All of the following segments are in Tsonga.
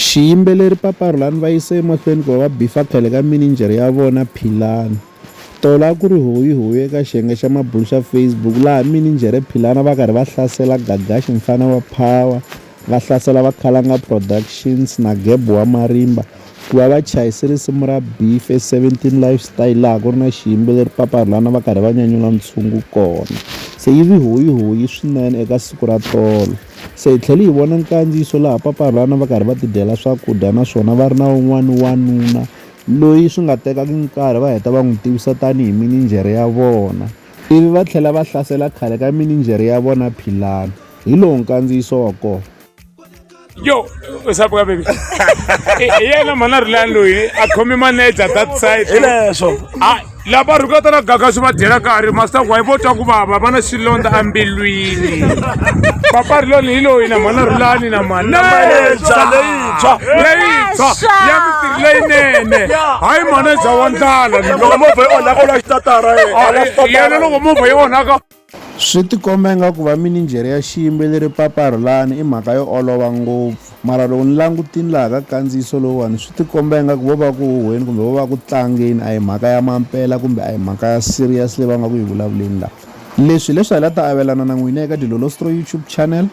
Xiyimbeleri Papa Rhulani va yise emahlweni ku va va bifa khale ka mininjhere ya vona Philani. Tolo a ku ri hoyihoyi eka xiyenge xa mabulo xa Facebook laha mininjhere Philani a va karhi va hlasela Gagashi mfana wa Power, va hlasela va Khalanga Productions na Geb wa Marimba ku va va chayise risimu ra Beef e 17 Lifestyle laha ku ri na xiyimbeleri Papa Rhulani a va karhi va nyanyula ntshungu kona. Se yi vi hoyihoyi swinene eka siku ra tolo. Se hi tlhele hi vona nkandziyiso laha papa a ri vana va karhi va tidyela swakudya naswona va ri na un'wana wanuna loyi swi nga tekaka nkarhi va heta va n'wi tivisa tanihi mininjhere ya vona ivi va tlhela va hlasela khale ka mininjhere ya vona philani hi lowu nkandziyiso wa kona yo usapo ka baby hi yena mhana rilani loyi a khome manager that side hileswo laha va rhukata na gaga swi va dyela karhi masitaku wa yi vo twa ku vava va na xilondza embilwini papariloni hi loyi na mhana rulani na manaleyintshwa leyintshwa leyintshwa ya mitirhi leyinene hayi maneja wa ndlala loko movha yi onhaka u la xitatara yena loko movha yi onhaka Swi tikomba ingaku vaminijhere ya xiyimbeleri Papa Rhulani i mhaka yo olova ngopfu. Mara loko ni langutini laha ka kandziyiso lowuwani swi tikomba ingaku vo va ku huhweni kumbe vo va ku tlangeni a hi mhaka ya mampela kumbe a hi mhaka ya serious leyi va nga ku yi vulavuleni la. Leswi hi leswi hi la ta avelana na n'wina eka Dilolostro YouTube Channel.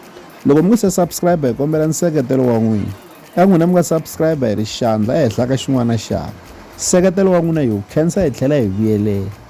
Loko mi nge se subscriber hi kombela nseketelo wa n'wina. Ka n'wina mi nga subscriber hi ri xandla ehenhla ka xin'wana na xin'wana. Nseketelo wa n'wina hi wu khensa hi tlhela hi vuyelela.